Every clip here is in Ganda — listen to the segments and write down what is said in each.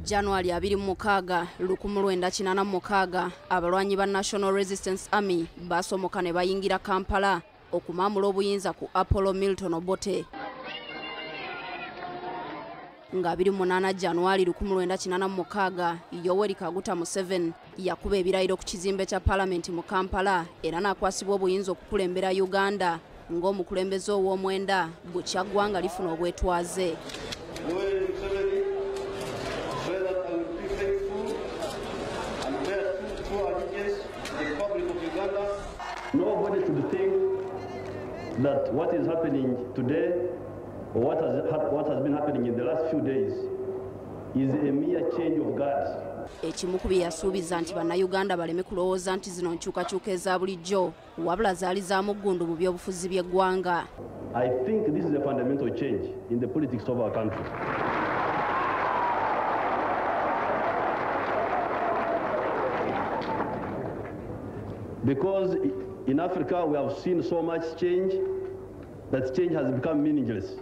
january 26 196 abalwanyi ba national resistance army basomoka ne bayingira kampala okumamula obuyinza ku apollo milton obote nga 28 january 1996 yoweri kaguta museven yakuba ebirayiro ku kizimbe kya palamenti mu kampala era n'akwasibwa obuyinza okukulembera uganda ng'omukulembeze ow'omwenda bukya ggwanga lifuna obwetwaze Nobody should think that what is happening today or what has, what has been happening in the last few days is a mere change of guards. ekimu ku bye yasuubiza nti bannayuganda baleme kulowooza nti zino nkyukakyuka eza bulijjo wabula zaali za muggundu mu byobufuzi by'eggwanga Because in Africa we have seen so much change that change has become meaningless.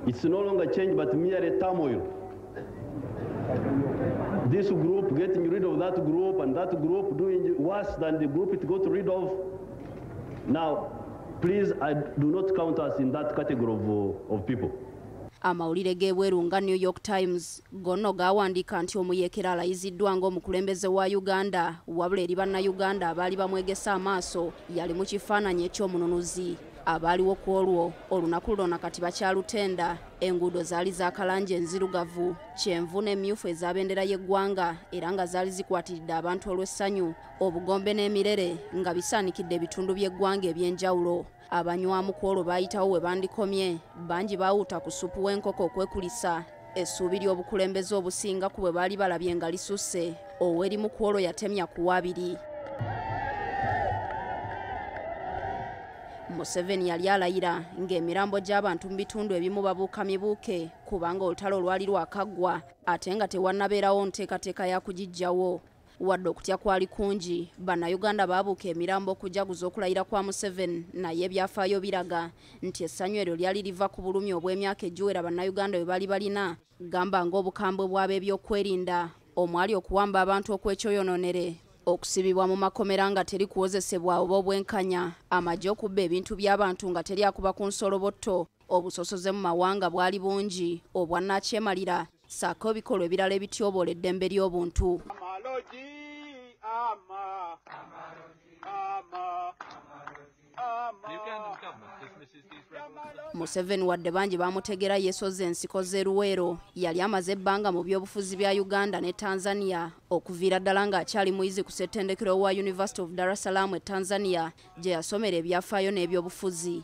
It's no longer change but merely turmoil. This group getting rid of that group and that group doing worse than the group it got rid of. Now, please, I do not count us in that category of, uh, of people. amawulire g'ebweru nga new york times gonno gaawandiika nti omuyeekera alayiziddwa ng'omukulembeze wa uganda wabula eri bannayuganda abaali bamwegese amaaso yali mu kifaananyi eky'omununuzi abaaliwo ku olwo olunaku lulona kati bakyalutenda enguudo zaali zakalangi enzirugavu kyenvu n'emyufu ezabendera y'eggwanga era nga zaali zikwatiridde abantu olw'essanyu obugombe n'emirere nga bisaanikidde ebitundu by'eggwanga eby'enjawulo abanywamu ku olwo baayitawo we bandikomye bangi baawuuta ku supu w'enkoko okwekulisa essuubi ly'obukulembeze obusinga ku bwe baali balabye nga lisusse ow'erimu ku olwo yatemya ku waabiri museveni yali alayira ng'emirambo gy'abantu mu bitundu ebimu babuuka mibuuke kubanga olutalo olwali lwakaggwa ate nga tewannabeerawo nteekateeka ya kugiggyawo wadde okutya kwali kungi bannayuganda baabuuka emirambo okujaguza okulayira kwa museveni naye ebyafaayo biraga nti essanyu eryo lyali liva ku bulumi obw'emyaka egiwera bannayuganda bwe bali balina gamba ng'obukambwe bw'ab'ebyokwerinda omwali okuwamba abantu okwekyoyononere okusibibwa mu makomera nga teri kuwozesebwa oba obwenkanya amagye okubba ebintu by'abantu nga teri akuba ku nsolobotto obusosoze mu mawanga bwali bungi obwannakyemalira saako ebikolwa ebirala ebityoboola eddembe ly'obuntu museveni wadde bangi bamutegera yesoza ensiko z'eruweero yali amaze ebbanga mu byobufuzi bya uganda ne tanzania okuviira ddala ng'akyali muyizi ku ssettendekero wa university of dar es salaam e tanzania gye yasomera ebyafaayo n'ebyobufuzi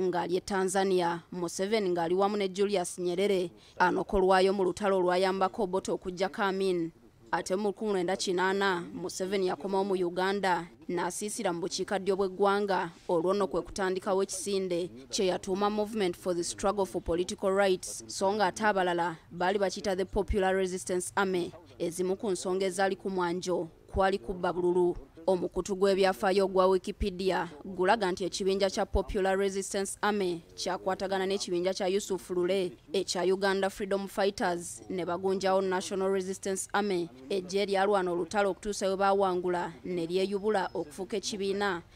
ng'ali e tanzania museveni ng'ali wamu ne julius nyerere anokolwayo mu lutalo olwayambako obote okuggyako amin ate mu 1980 museveni yakomawo mu uganda n'asiisira mu bukiika ddyo bw'eggwanga olwo nno kwe kutandikawo ekisinde kye yatuuma movement for the struggle for political rights so ng'ate abalala baali bakiyita the popular resistance army ezimu ku nsonga ezaali ku mwanjo kwali kubba bululu omukutu gw'ebyafaayo ogwa wikipedia gulaga nti ekibinja kya popular resistance army kyakwatagana n'ekibinja kya yusuf lule ekya uganda freedom fighters ne bagunjawo national resistance army ejja eryalwana olutalo okutuusa we baawangula ne lyeyubula okufuuka ekibiina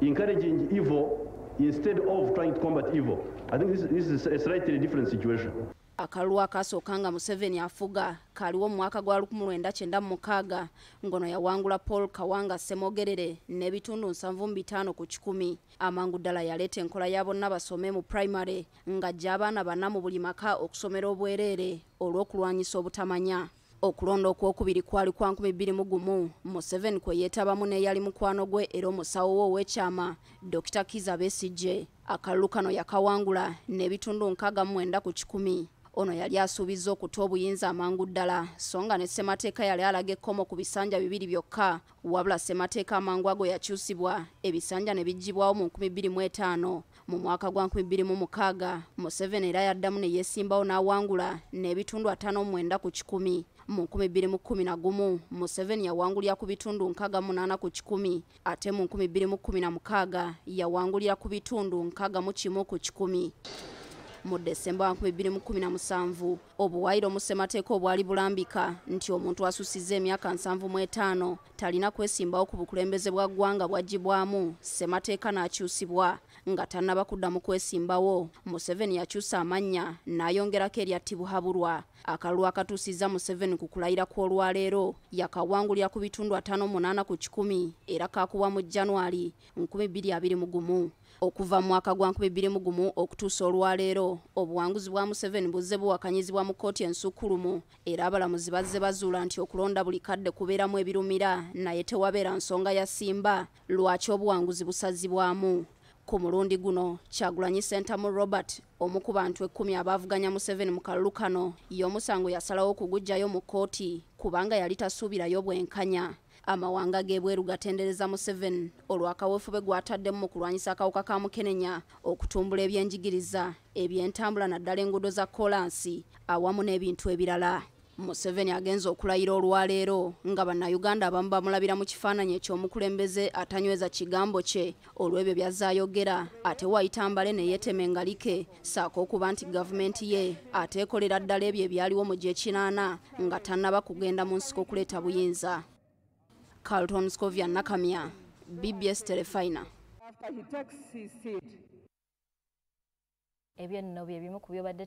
encouraging evil instead of trying to combat evil i think this, this is a slightly different situation akalulu akaasooka nga museveni afuga kaaliwo mu mwaka gwa 1996 ngono yawangula paul kawanga semogerere n'ebitundu 75 ku kikumi amangu ddala yaleeta enkola ya bonna basome mu primary ng'ajja abaana bana mu buli maka okusomera obwereere olw'okulwanyisa obutamanya okulonda okwokubiri kwali kwa nkumi bbiri mu gumu museveni kwe yeetabamu n'eyali mukwano gwe era omusawo we ow'ekyama dokita kiza besigye akalulu kano yakawangula n'ebitundu nkaaga mwenda ku kikumi ono yali asuubizza okuta obuyinza amangu ddala so nga ne ssemateeka yali alaga ekkomo ku bisanja bibiri byokka wabula ssemateeka amangu ago yakyusibwa ebisanja ne biggyibwawo mu nkumi bbiri mu etaano Mu mwaka gwa 2006 Museveni era yaddamu ne yeesimbawo n'awangula n'ebitundu ataano omwenda ku kikumi. Mu 2011 Museveni yawangulira ku bitundu nkaaga munaana ku kikumi ate mu 2016 yawangulira ku bitundu nkaaga mu kimu ku kikumi. Mu Desemba wa 2017 obuwaayiro mu ssemateeka obwali bulambika nti omuntu asussizza emyaka nsanvu mu etaano talina kwesimbawo ku bukulembeze bwa ggwanga bwaggyibwamu ssemateeka n'akyusibwa nga tannaba kuddamu kwesimbawo museveni yakyusa amannya n'ayongerako erya tibuhaburwa akalulu akatuusizza museveni ku kulayira kw'olwaleero yakawangulira ku bitundu ataano munaana ku kikumi era kaakubwa mu january 2021 okuva mu mwaka gwa nkumi bbiri mu gumu okutuusa olwaleero obuwanguzi bwa museveni buzze buwakanyizibwa mu kkooti ensukkulumu era abalamuzi bazze bazuula nti okulonda buli kadde kubeeramu ebirumira naye tewabeera nsonga yasimba lwaki obuwanguzi busazibwamu ku mulundi guno kyagulanyi sentamu robert omu ku bantu ekkumi abaavuganya museveni mu kalulu kano y'omusango yasalawo okugujjayo mu kkooti kubanga yali tasuubirayo bwenkanya amawanga g'ebweru gatendereza museveni olw'akaweefube gw'ataddemu mu kulwanyisa akawuka ka mukenenya okutumbula ebyenjigiriza ebyentambula naddala enguudo za kkolansi awamu n'ebintu ebirala museveni agenza okulayira olwaleero nga bannayuganda abamu bamulabira mu kifaananyi eky'omukulembeze atanyweza kigambo kye olw'ebyo byazze ayogera ate wayita mbale ne yeetema engalike saako okuba nti gavumenti ye ate ekolera ddala ebyo ebyaliwo mu gyekinaana nga tannaba kugenda mu nsiko okuleeta buyinza carlton scovia nakamya bbs telefina ebyo nno bye bimu ku byobadde